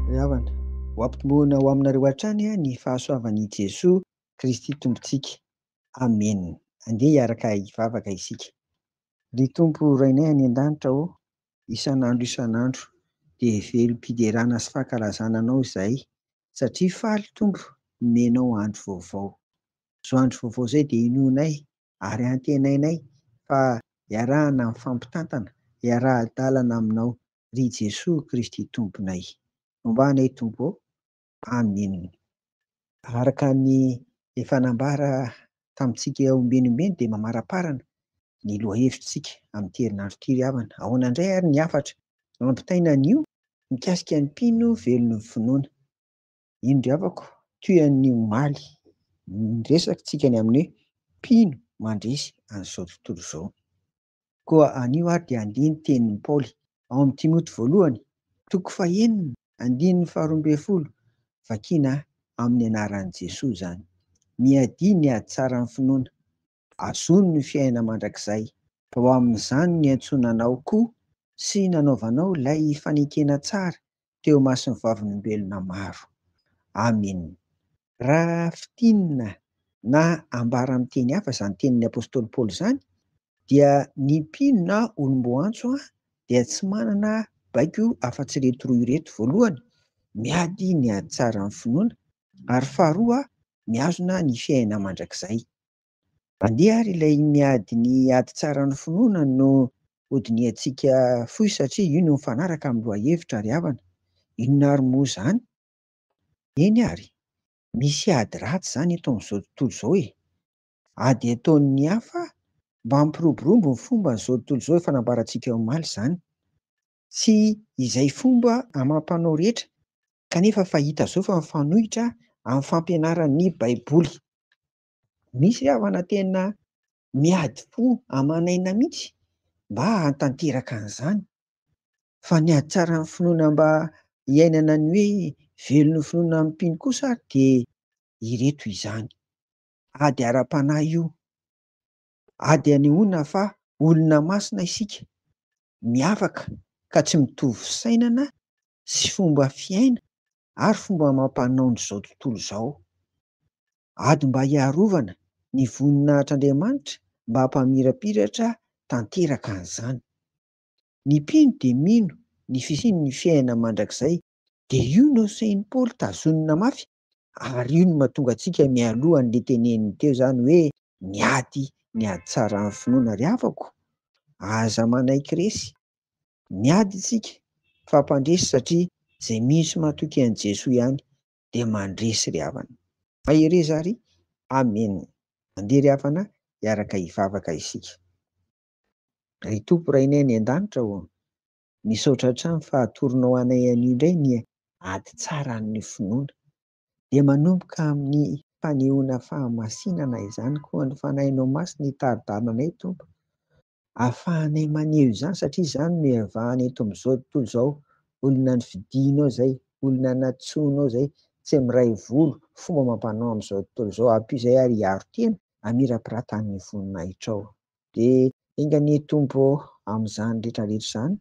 Ry havana, ho ampitoboina ho aminareo hatrany ny fahasoavan' i Jesoa Kristy Tompontsika. Amena. Andeha hiaraka hivavaka isika. Ry Tompo Rainay any An-danitra ô, isan' andro isan' andro dia velom-piderana sy fankalazana Anao izahay, satria faly Tompo nomenao andro vaovao. Izao andro vaovao izay dia inoanay ary antenainay fa iarahana mifampitantana hiaraha-dalana aminao ry Jesoa Kristy Tomponay. Homba anay Tompo ô. Amin. Araka ny efa nambara tamintsika eo ambenimbeny dia mamaraparana ny lohahevitritsika amin'ity herinandro ity ry havana. Ahoana indray ary ny hafatra ampitaina anio mikasika ny mpino velon'ny finoana? Indro havako, toy an'ny omaly, ny resakintsika ny amin'ny hoe mpino mandresy an'izao tontolo izao. Koa anio ary dia andihy ny tenin'i Paoly ao amin'ny Timoty voalohany, toko fahenina, andininy faharoa ambin'ny folo, vakiana amin'ny anaran'i Jesoa izany. Miadia ny ady tsara amin'ny finoana, Azony ny fiainana mandrakizay. Tao amin'izany niantsoana anao koa sy nanaovanao ilay fanekena tsara teo imason'ny vavolombelona maro. Amena. Raha fintinina na ambara amin'ny teny hafa izany tenin'ny apostoly Paoly izany, dia ny mpino na olom-boantso dia tsy manana baiko afa-tsy ireto roa ireto, voalohany, miady ny ady tsaran'ny finoana, ary faharoa, mihazona ny fiainana mandrakizay. Andeha ary ilay iny ady ny ady tsara ny finoana no hodinihantsika fohy satria io no mifanaraka amin'ny lohahevitra ry havana. Inona ary moa izany? Eny ary, misy ady ratsy izany eto amin'izao tontolo izao e! Ady ataon'ny hafa mba hampiroborobo ny fomba an'izao tontolo izao efa nambarantsika omaly izany. Tsy izay fomba amam-panao rehetra kanefa fa hita izao fa mifanohitra amin'ny fampianaran'ny Baiboly. Misy havana tena miady fo aman'aina mihitsy mba hahatanteraka an'izany. Fa ny hahatsaran'ny finoana mba hiainana ny hoe velon'ny finoana amin'ny mpino kosa ary dia ireto izany. Ady ara-panahy io. Ady anehoana fa olona masina isika, miavaka ka tsy mitovy fisainana sy fomba fiaina ary fomba amam-panaon'izao tontolo izao. Ady mba hiarovana ny voninahitr'Andriamanitra mba hampamirapiratra tanteraka an'izany. Ny mpino dia mino ny fisian'ny fiainana mandrakizay. Dia io no sehin'i Paoly tazonina mafy ary io no mahatonga antsika mialoha an'le teneniny teo zany hoe ny ady ny ady tsaran'ny finoana ry havako aza manaiky resy ny ady isika fa mpandresy satria zay mino sy matoky an'i Jesoa ihany dia mandresy ry havana. Mahereza ary Amen Andeha ry havana hiaraka hivavaka isika Ry Tompo Rainay any an-danitra ô Misaotra hatrany fa atoronao anay anio indray ny ady tsara amin'ny finoana. Dia manomboka amin'ny fanehoana fahamasinana izany koa ny Fanahinao Masina hitari-dalana anay Tompo. Ahafahanay maneho izany satria izany no iavahana eto amin'izao tontolo izao, olona nofidinao izay, olona nantsoinao izay, tsy miray volo, fomba amam-panao amin'izao tontolo izao. Ampio izay ary hiaro tena hamirapirata amin'ny voninahitrao. Dia enga anie Tompo ô, amin'izany rehetra rehetra izany,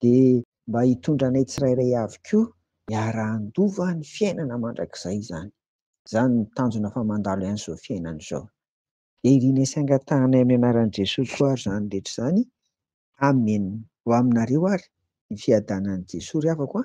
dia mba hitondra anay tsirairay avy koa hiara-handova ny fiainana mandrakizay izany. Izany no tanjona fa mandalo ihany izao fiainana izao. Dia irianay sy angatahanay amin'ny anaran'i Jesoa koa ary izany rehetra izany. Amen. Ho aminareo ary ny fiadanan'i Jesoa ry havako a!